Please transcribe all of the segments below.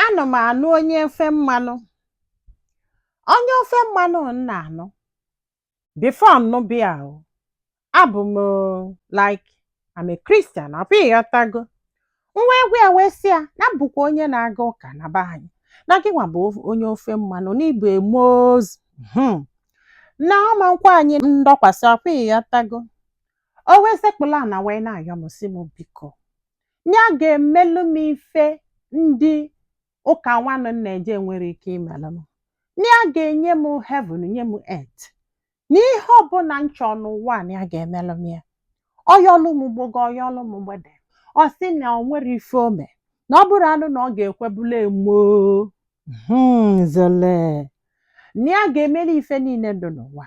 ana m anụ onye ofe mmanụ onye ofe mmanụ m na-anụ before m nụba ya o abụ m like I'm a Christian ọkwa ịghọtago m wee gwa ya wee sị ya na bụkwa onye na-aga ụka na be anyị na gịnwa bụ onye ofe mmanụ na ị bụ a Moz hmm. na ọ ma nkwe anyị ndọkwasị ọkwa ịghọtago o wee sekpulu ana wee na-ayọ m sị m biko nya ga-emelụ m ife ndị ụka nwanụ m na-eje enwerọ ike imelụ m na ya ga-enye m heaven nye m earth na ihe ọbụla m chọọ n'ụwa a na ya ga-emelụ m ya ọ yọlụ mgbago ọ yọlụ mgbeda ọ sị na o nwerọ ife o me na ọ bụrụ anụ na ọ ga-ekwe bụlụ a Muslim na ya ga-emeli ife niile dị n'ụwa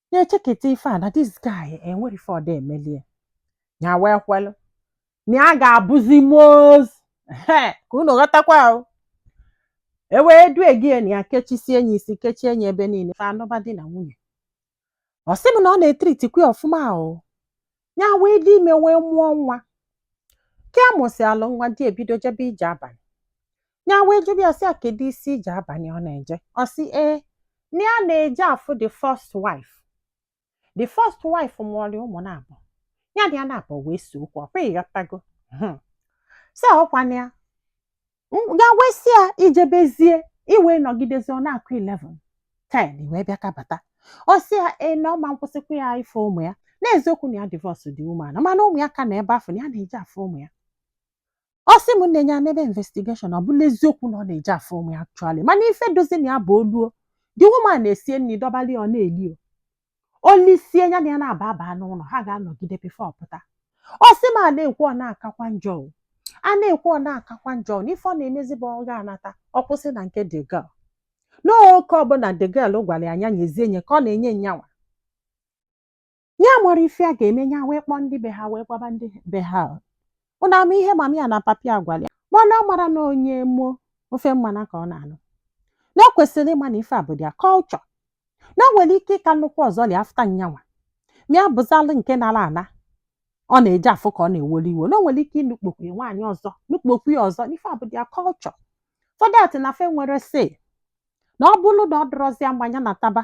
nya echeketa ife a na this guy enwerọ ife ọ da-emelie nya wee kwelụ na ya ga-abụzi moz ka unu ghọtakwa o e wee due gị na ya kechisie enyi isi kechie enyi ebe niile fa anụba di na nwunye ọ sị m na ọ na-etritikwa ya ọfụma o ya wee dị ime wee mụọ nwa ka ya mụsịalụ nwa di ya ebido jebe ije abalị ya wee jụba ya sị ya kedu isi ije abalị ọ na-eje ọ sị ee na ya na-eje afụ the first wife the first wife mụọrị ụmụ naabọ ya na di ya naabọ wee see okwu ọkwa ịghọtago Hmm. sị ọkwa na ya M- ya wee sị ya i jebezie i wee nọgidezie ọ na-akụ 11 10 i wee bịa kabata ọ sị ya ee na ọ ma nkwụsịkwa ya ịfụ ụmụ ya n'eziokwu na ya divorce the woman mana ụmụ ya ka nọ ebe afụ na ya na-eje afụ ụmụ ya ọ sị m nne nya emebe investigation ọ bụlụ eziokwu na ọ na-eje afụ ụmụ ya actually mana ife dịzi na ya bụ o luo the woman esie nri dọbali ya ọ na-eli o o lisie ya na ya naabọ aba n'ụlọ ha ga-anọgide before ọ pụta ọ sị m a na-ekwu ọ na-akakwa njọ o. a na-ekwu ọ na-akakwa njọ o. na ife ọ na-emezi bụ ọ ga-anata ọ kwụsị na nke the girl n'oke ọbụla the girl gwara ya nya nyezie nye ka ọ na-enye nyanwa nya amarọ ife ya ga-eme ya wee kpọọ ndị be ha wee gwaba ndị be ha unu ama ihe mama ya na papa ya gwara ya mana ọ marọ na onye mo ofe mmanụ ka ọ na-anụ na o kwesịrị ịma na ife a bụ their culture na o nwere ike ịka nụkwa ọzọ lia after nyanwa ma ya bụzalụ nke nara ana ọ na-eje afụ ka ọ na-ewere iwe na o nwere ike ịnụkpọkwu ya nwaanyị ọzọ nụkpọkwu ya ọzọ na ife a bụ their culture for that na fa enwerọ say na ọ bụrụ na ọ dịrọzi ya mma nya nataba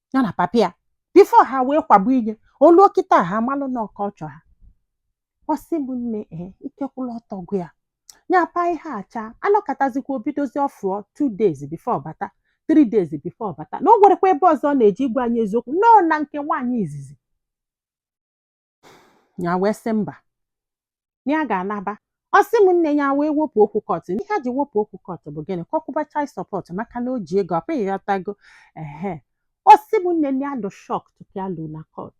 ya na papa ya before ha wee kwagbu inye o luo kịta ha amalụ na ọka ọ chọ ha ọ sị m nne ee ike kwụlụ ọtọ gwụ ya ya pa ihe a cha a nọkatazikwa o bidozi ọfụụ two days before ọ bata three days before ọ bata na o nwerọkwa ebe ọzọ ọ na-eje ịgwa anyị eziokwu na ọ nọ na nke nwaanyị izizi nya wee sị mba na ya ga-anaba ọ sị m nne nya wee wepụ okwu court n'ihe a ji wepụ okwu court bụ gịnị ka ọ kwụba child support maka na o ji ego ọkwa ị ghọtago ehe ọ sị m nne nya dụ shock tupu ya lu na court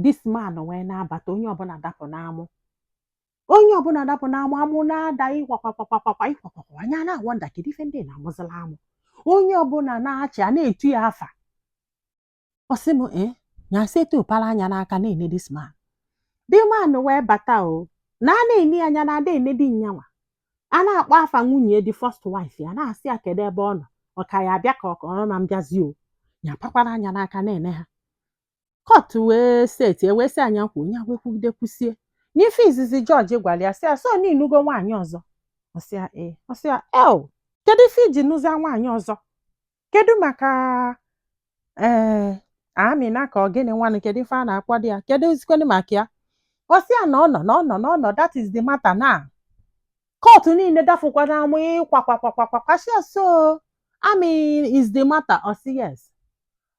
this man wee na-abata onye ọbụna dapụ n'amụ onye ọbụna dapụ n'amụ amụ na-ada ịkwakwakwakwakwakwa ịkwakwakwa nya na-awonder kedu ife ndị na-amụzila amụ onye ọbụna na-achị a na-etu ya afa ọ sị m ee nya si etu pala anya n'aka na-ene this man the man wee bata o na a na-ene ya anya na ada ene di nyanwa a na-akpọ afa nwunye the first wife ya na-asị ya kedu ebe ọ nọ ọ ka ya abịa ka ọ kọrọ ma mbịazi o nya pakwara anya n'aka na-ene ha court wee set e wee sị nya kwuo nya wee kwugide kwusie n'ife izizi judge gwara ya sị ya so na ị nụgo nwaanyị ọzọ ọ sị ya ee ọ sị ya ee kedu ife i ji nụzia nwaanyị ọzọ kedu maka ee eh, amina ka ọ gịnị nwanụ kedu ife a na-akpọdị ya keduzikwanụ maka ya ọ sị ya na ọ nọ na ọ nọ na ọ nọ that is the matter na court niile dafụkwara amụ ịkwakwakwakwakwa sị ya so ami is the matter ọ sị yes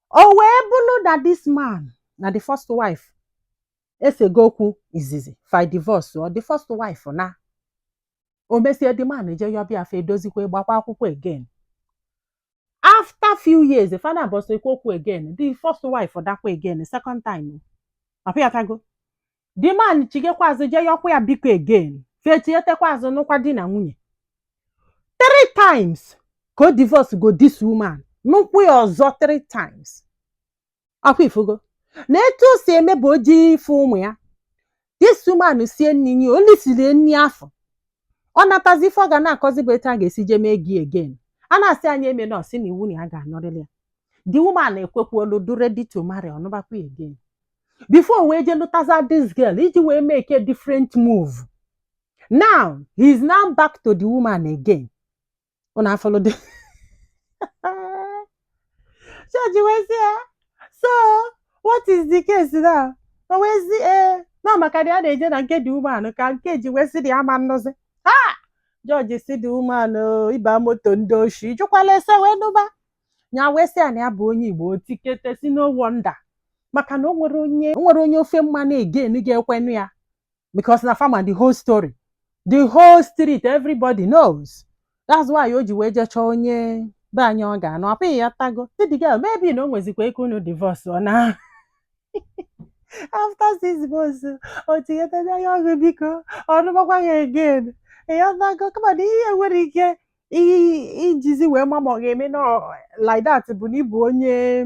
o wee bụrụ na this man na the first wife esego okwu izizi fa divorce o the first wife na o mesie the man je yọba ya fa edozikwa gbakwa akwụkwọ again after few years fa naabọ sekwa okwu again the first wife nakwa again the second time ọkwa ị ghọtago the man chighakwa azụ je yọkwa ya biko again fa echighatakwa azụ nụkwa di na nwunye three times ka ọ divorce go this woman nụkwa ya ọzọ three times ọkwa ị fụgo na etu o si eme bụ o ji ife ụmụ ya this woman sie nri nye ya o lisie nri afọ ọ natazi ife ọ ga na-akọzi bụ etu a ga-esi jee mee gị again a na-asị nya emena ọ sị na iwu na ya ga-anụrịrị ya the woman ekwekwa already to marry ọ nụbakwa again before o wee jee lụtaza this girl iji wee make a different move now he is now back to the woman again unu afụlụ the judge wee sị ya so what is the case now o wee sị ee na maka na ya na-eje na nke the woman ka nke a ji wee sị na ya ama anọzi ha judge sị the woman ị ba moto ndị oshi ị jụkwala ese wee nụba nya wee sị ya na ya bụ onye igbo o tikete sị no wonder maka na o nwere onye o nwere onye ofe mmanụ again ga-ekwe nụ ya because na fa ma the whole story the whole street everybody knows that's why o ji wee jee chọọ onye be anyị ọ ga-anụ ọkwa ị ghọtago sị the girl maybe na o nwezikwa ike unu divorce ọ na after six months o tinyetezi anya ọgụ biko ọ nụmakwa ya again ị ghọtago kama na ihe nwere ike i- i jizi wee ma ma ọ ga-eme na ọ- like that bụ na ị bụ onye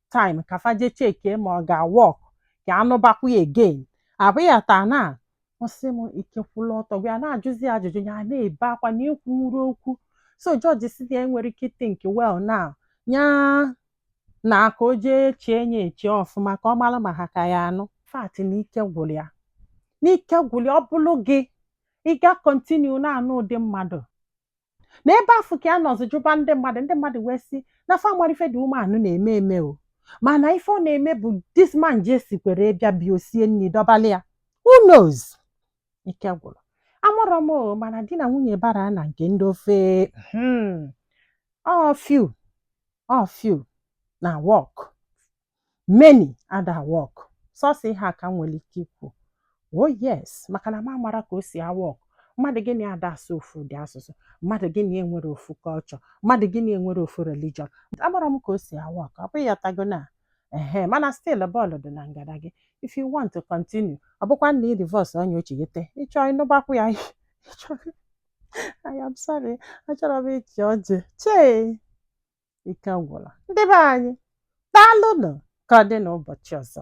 time ka fa je checkie ma ọ ga-awork ka a nụbakwa ya again a bịa taa na ọ sị m ikekwula ọtọ gwa ya na-ajụzi ya ajụjụ ya na-ebe akwa na ekwunwuro okwu so judge si na ya nwere ike think well now nya na ka o jee chee nya eche ọfụma ka ọ mara ma ha ka ya anụ fact na ike gwụrụ ya n'ike gwụrụ ya ọ bụrụ gị ị ga-continue na-anụ ụdị mmadụ na ebe afụ ka a nọzi jụba ndị mmadụ ndị mmadụ wee sị na fa amara ife dị umeanụ na-eme eme o mana ife ọ na-eme bụ this man ji esikwere bịa bịa o sie nri dọbala ya who knows ike gwụrụ amarọ m o mana di na nwunye bara na nke ndị ofe hmm, ọ few ọ few na work many ada work sọsọ ihe a ka m nwere ike ikwu o oh yes maka na m amara ka o si awork mmadụ gị na ya ada asụ ofu ụdị asụsụ mmadụ gị na ya enwere ofu culture mmadụ gị na ya enwere ofu religion amara m ka o si awork ọ bụghị ị ghọtago na ehe mana still bọọlụ dị na ngada gị if you want to continue ọ bụkwa na ị divorce onye ochigete ị chọọ ịnụbakwa ya I am sorry achọrọ m ịchị ọchị chee ike agwụla ndị be anyị daalụnụ ka ọ dị n'ụbọchị ọzọ